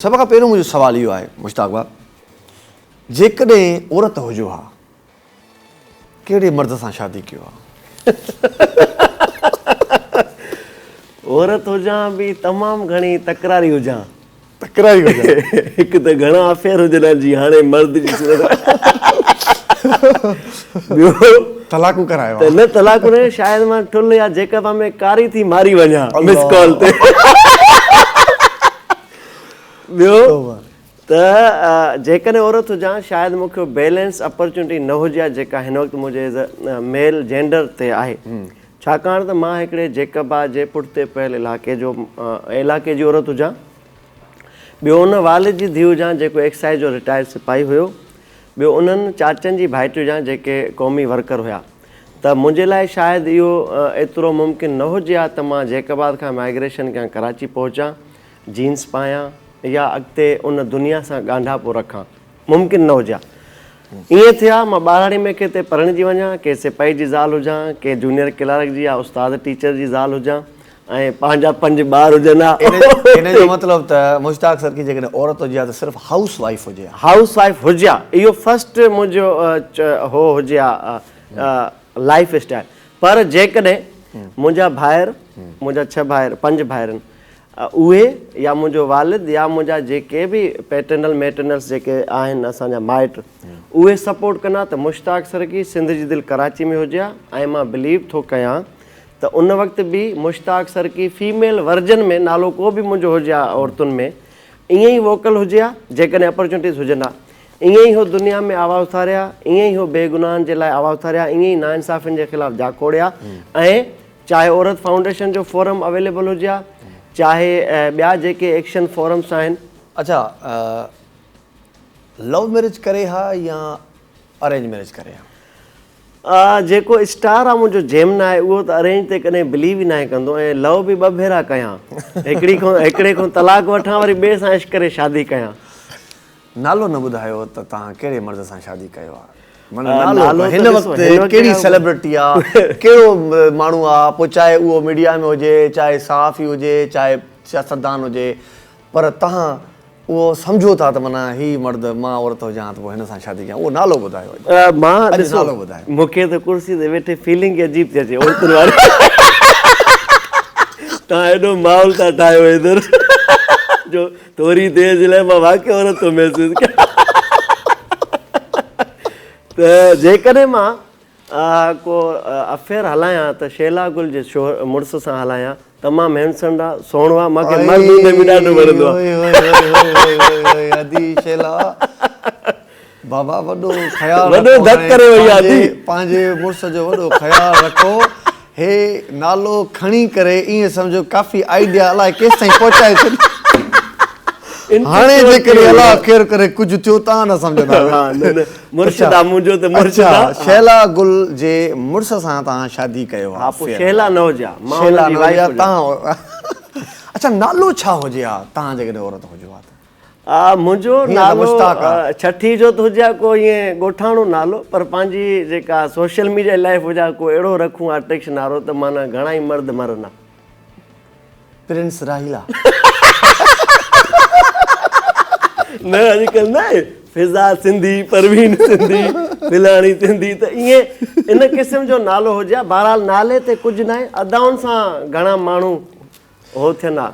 سڀ کان پهريون منهنجو سوال اهو آهي مشتاق ڀاء جيڪڏهن عورت هجو ها ڪهڙي مرد سان شادي ڪيو ها؟ عورت هجان به تمام گهڻي تڪراري هجان. تڪراري هجان. هڪ ته گهڻا افيئر هجن ها جي هاڻي مرد جي صورت ۾ ٻيو طلاقون ڪرايو ها. ته نه طلاقون نه شايد مان ٽل يا جيڪب ۾ ڪاري ٿي ماري وڃان مس ڪال تي. ٻيو ته جيڪڏهن عورت هجان شايد مون کي بيلنس اپرچونٽي نه هجي ها جيڪا هن وقت منهنجي ايز اي ميل جينڊر تي آهي ڇاڪاڻ ته مان هڪڙي جيڪبا جي پٺتي پيل علائقي جو علائقي جي عورت هجان ٻيو ان والد جي ڌيء هجان جيڪو ايڪسائيز جو رٽائرڊ سپاهي هيو ٻيو انهن چاچن جي ڀائٽي هجان جيڪي قومي ورڪر هيا ته منهنجي لاء شايد اهو ايترو ممڪن نه هجي ها ته مان جيڪبا کان مائگريشن ڪيان ڪراچي پهچان جينز پايان يا اڳتي ان دنيا سان ڳانڍاپو رکان، ممڪن نه هجيا. ائين ٿي ها، مان ٻاراڙي ۾ ڪنهن تي پرڻجي وڃان، ڪنهن سپاهي جي زال هجان، ڪنهن جونيئر ڪلارڪ جي يا استاد ٽيچر جي زال هجان ۽ پنهنجا پنج ٻار هجن ها. ان جو مطلب ته مشتاق سرڪي جيڪڏهن عورت هجي ها ته صرف هائوس وائيف هجي ها. هائوس وائيف هجي ها، اهو فرسٽ منهنجو هو هجي ها لائيف اسٽائيل. پر جيڪڏهن منهنجا ڀائر، منهنجا ڇهه ڀائر، پنج ڀائرن، اهي يا منهنجو والد يا منهنجا جيڪي به پيٽرنل ميٽرنلس جيڪي آهن اسان جا مائٽ اهي سپورٽ ڪندا ته مشتاق سرڪي سنڌ جي دل ڪراچي ۾ هجي ها ۽ مان بليو ٿو ڪيان ته ان وقت به مشتاق سرڪي فيميل ورجن ۾ نالو ڪو به منهنجو هجي ها عورتن ۾ ائين ئي ووڪل هجي ها جيڪڏهن اپرچونٽيز هجن ها ائين ئي هو دنيا ۾ آواز اٿاري ها ائين ئي هو بي گناهن جي لاء آواز اٿاري ها ائين ئي ناانصافين جي خلاف جاکوڙي ها ۽ چاهي عورت فائونڊيشن جو فورم اويليبل هجي ها چاهي ٻيا جيڪي ايڪشن فورمس آهن. اڇا لو ميرج ڪري ها يا ارينج ميرج ڪري ها. جيڪو اسٽار آ منهنجو جيمنا آهي اهو ته ارينج تي ڪڏهن بليو ئي ناهي ڪندو ۽ لو به ٻه ڀيرا ڪيان هڪڙي کان هڪڙي کان طلاق وٺان وري ٻئي سان عشق ڪري شادي ڪيان. نالو نه ٻڌايو ته توهان ڪهڙي مرد سان شادي ڪيو آ معنيٰ نالو هن وقت ڪهڙي سيلبرٽي آ ڪهڙو ماڻهو آ پوء چاهي اهو ميڊيا ۾ هجي چاهي صحافي هجي چاهي سياستدان هجي پر توهان اهو سمجهو ٿا ته معنيٰ هي مرد مان عورت هجان ته پوء هن سان شادي ڪيان اهو نالو ٻڌايو اڄ نالو ٻڌايو. مون کي ته ڪرسي تي ويٺي فيلنگ ئي عجيب ٿي اچي عورتن واري توهان ايڏو ماحول ٿا ٺاهيو ادھر جو ٿوري دير جي لاء مان واقعي عورت ٿو محسوس ڪيان ته جيڪڏهن مان ڪو افيئر هلايان ته شيلا گل جي مڙس سان هلايان تمام هينسنڊ آ سهڻو آ مانکي مرد هوندي به ڏاڍو وڻندو آ. بابا وڏو خيال رکو وڏو ڌڪ ڪري وئي آ جي پنهنجي مڙس جو وڏو خيال رکو هي نالو کڻي ڪري ايئن سمجهو ڪافي آئيڊيا الائي ڪيستائين پهچائي ڇڏي هاڻي جيڪڏهن الله خير ڪري ڪجهه ٿيو تان نه سمجهندا مرشد آ منهنجو ته مرشد آ شهلا گل جي مڙس سان تان شادي ڪيو آ پوء شهلا نه هجي آ مان هن جي وائيف هجان اڇا نالو ڇا هجي آ تان جيڪڏهن عورت هجو آ ته آء منهنجو نالو ڇٺي جو ته هجي ها ڪو ائين ڳوٺاڻو نالو پر پنهنجي جيڪا سوشل ميڊيا لائيف هجي ها ڪو اهڙو رکون ها ٽيڪس نارو ته معنيٰ گهڻا ئي مرد مرن ها. پرنس راحيلا. نه اڄ ڪلهه نه آهي فضا سنڌي پروين سنڌي فلاڻي سنڌي ته ائين ان قسم جو نالو هجي ها بهرحال نالي تي ڪجهه نه آهي ادائن سان گهڻا ماڻهو هو ٿين ها.